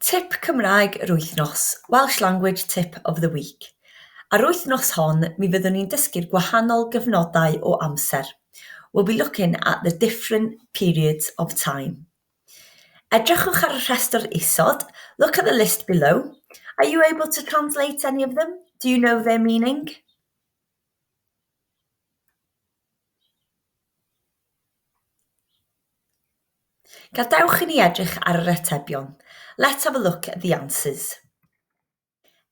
Tip Cymraeg yr Wythnos, Welsh Language Tip of the Week. Ar wythnos hon, mi fyddwn ni'n dysgu'r gwahanol gyfnodau o amser. We'll be looking at the different periods of time. Edrychwch ar y rhestr isod, look at the list below. Are you able to translate any of them? Do you know their meaning? Gadewch i ni edrych ar yr atebion. Let's have a look at the answers.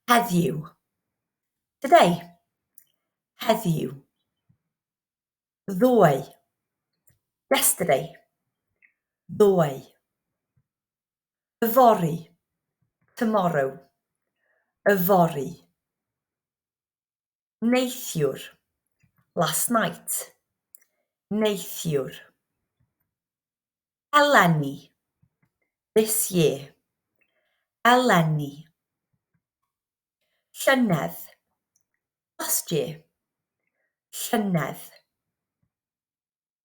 Heddiw. Today. Heddiw. Ddoe. Yesterday. Ddoe. Yfory. Tomorrow. Yfory. neithiwr last night neithiwr eleni this year eleni llynedd last year llynedd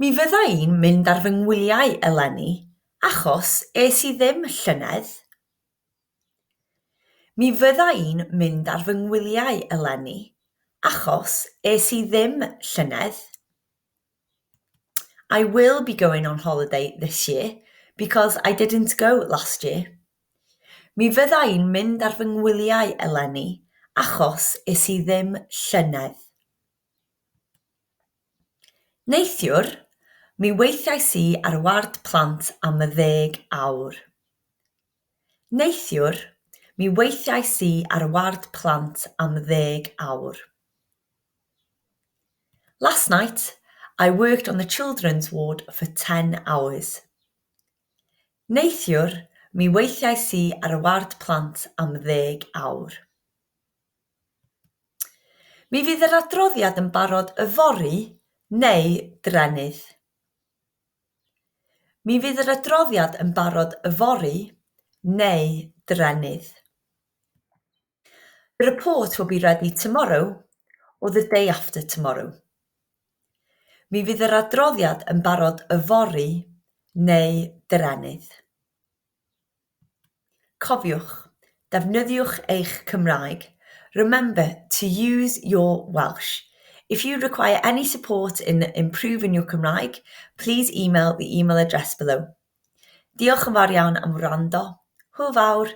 Mi fydda i'n mynd ar fy ngwyliau eleni, achos es i ddim llynedd. Mi fydda i'n mynd ar fy ngwyliau eleni, achos es i ddim llynedd. I will be going on holiday this year, because I didn't go last year. Mi fydda i'n mynd ar fy ngwyliau eleni, achos es i ddim llynedd. Neithiwr, mi weithiais i ar ward plant am ddeg awr. Neithiwr, mi weithiais i ar ward plant am ddeg awr. Last night, I worked on the children's ward for ten hours. Neithiwr, mi weithiais i ar ward plant am ddeg awr. Mi fydd yr adroddiad yn barod yfory neu drennydd. Mi fydd yr adroddiad yn barod yfory neu drennydd. The report will be ready tomorrow or the day after tomorrow. Mi fydd yr adroddiad yn barod yfory neu drennydd. Cofiwch, defnyddiwch eich Cymraeg, remember to use your Welsh. If you require any support in improving your Cymraeg, please email the email address below. Diolch yn fawr iawn am wrando. Hwyl fawr!